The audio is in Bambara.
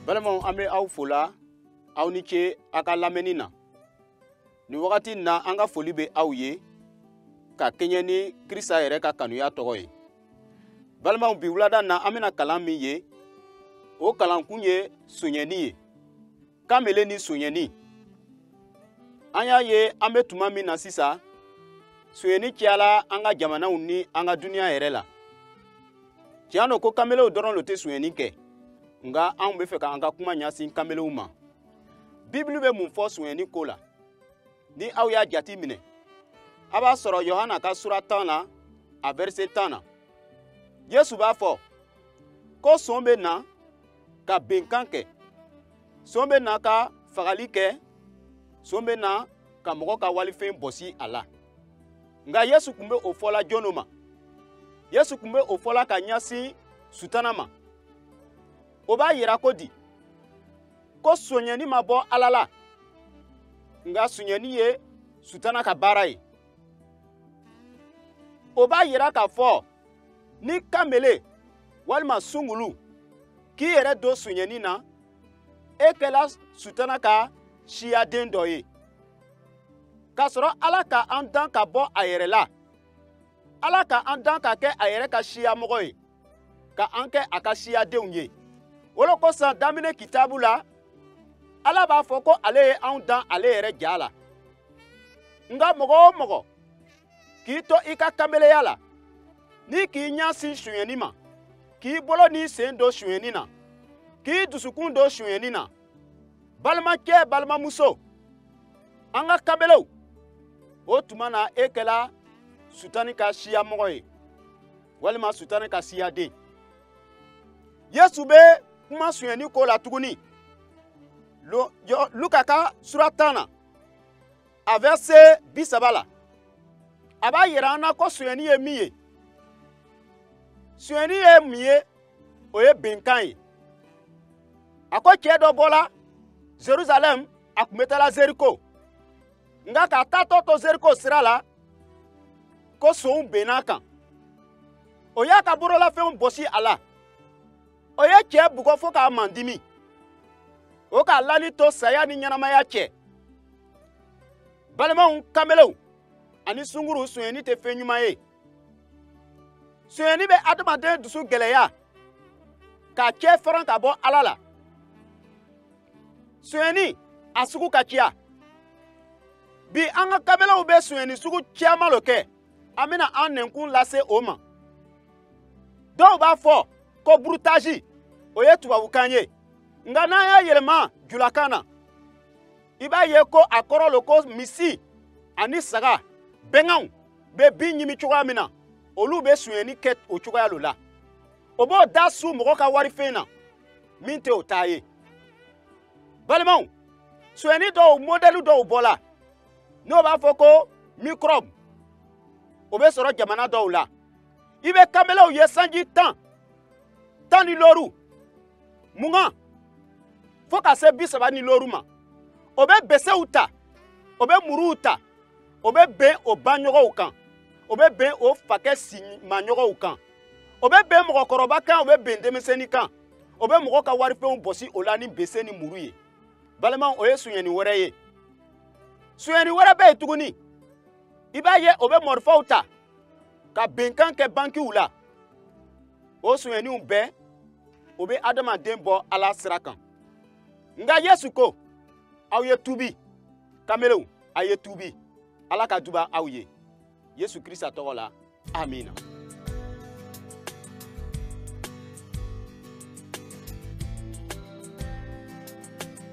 balimaw an bɛ aw fola aw ni ce aw ka lamɛnni na nin wagati in na an ka foli bɛ aw ye ka kɛɲɛ ni krista yɛrɛ ka kanuya tɔgɔ ye balimaw bi wulada na an bɛna kalan min ye o kalankun ye sonyɛni ye kanbele ni sonyɛni an y'a ye an bɛ tuma min na sisan sonyɛni cayala an ka jamanaw ni an ka duniya yɛrɛ la tiɲɛ don ko kanbelew dɔrɔn lo tɛ sonyɛni kɛ nka an bɛ fɛ k'an ka kuma ɲɛsin kanbelew ma bibulu bɛ mun fɔ sonyɛni ko la ni aw y'a jati minɛ a b'a sɔrɔ yohana ka sura tan na a vɛrise tan na yesu b'a fɔ ko son bɛ na ka benkan kɛ son bɛ na ka fagali kɛ son bɛ na ka mɔgɔ ka walifɛn bɔsi a la nka yesu kun bɛ o fɔla jɔn lo ma yesu kun bɛ o fɔla ka ɲɛsin sutana ma o b'a yira ko di ko sonyɛni ma bɔ ala la nka sonyɛni ye sutana ka baara ye o b'a yira k'a fɔ ni kanbele walima sungulu k'i yɛrɛ don sonyɛni na e kɛla sutana ka siyaden dɔ ye k'a sɔrɔ ala ka an dan ka bɔ a yɛrɛ la ala ka an dan ka kɛ a yɛrɛ ka siyamɔgɔ ye ka an kɛ a ka siyadenw ye o le kosɔn daminɛ kitabu la ala b'a fɔ ko ale ye an dan ale yɛrɛ ja la nka mɔgɔ o mɔgɔ k'i to i ka kanbeleya la ni k'i ɲasin sonyɛni ma k'i bolo n'i sen don sonyɛni na k'i dusukun don sonyɛni na balimacɛ balimamuso an ka kanbelew o tuma na e kɛla sutani ka siyamɔgɔ ye walima sutani ka siyaden yesu bɛ kuma sonyɛni ko la tuguni luka ka sura tan na a vɛrise bi saba la a b'a yira an na ko sonyɛni ye min ye sonyɛni ye mun ye o ye benkan ye a ko cɛ dɔ bɔla zeruzalɛm a kun bɛ taala zeriko nka k'a taatɔ to zeriko sira la ko sonw benn'a kan o y'a ka bololafɛnw bɔsi a la o ye cɛ bugɔ fo k'a mandimi o k'a lani to saya ni ɲɛnamaya cɛ balimaw kanbelew ani sunguru sonyɛni tɛ fɛn ɲuman ye sonyɛni bɛ adamaden dusu gɛlɛya k'a cɛ faran ka bɔ ala la sonyɛni a sugu ka ciya bi an ka kanbelew bɛ sonyɛni sugu caman lo kɛ an bɛna an nɛnkun lase o ma dɔw b'a fɔ ko broutage o ye tubabukan ye nka n'an y'a yɛlɛma julakan na i b'a ye ko a kɔrɔ lo ko misi ani saga bɛganw bɛ bin ɲimi cogoya min na olu bɛ sonyɛni kɛ o cogoya lo la o b'o da su mɔgɔ ka warifɛn na min tɛ o ta ye balimaw sonyɛni dɔw mɔdɛli dɔw bɔla n'o b'a fɔ ko microbe o bɛ sɔrɔ jamana dɔw la i bɛ kanbelew ye sanji tan tan ni looru mugan fo ka se bi saba ni looru ma o bɛ besew ta o bɛ muruw ta o bɛ ben o baɲɔgɔnw kan o bɛ ben o fakɛ simaɲɔgɔnw kan o bɛ ben mɔgɔkɔrɔba kan o bɛ ben denmisɛnnin kan o bɛ mɔgɔ ka warifɛnw bɔsi o la ni bese ni muru ye balimaw o ye sonyɛni wɛrɛ ye sonyɛni wɛrɛ bɛ yen tuguni i b'a ye o bɛ mɔrifaw ta ka benkan kɛ bankiw la o sonyɛniw bɛɛ o bɛ adamaden bɔ ala sira kan nka yesu ko aw ye tubi kamelenw a ye tubi ala ka duba aw ye yesu krista tɔgɔ la amina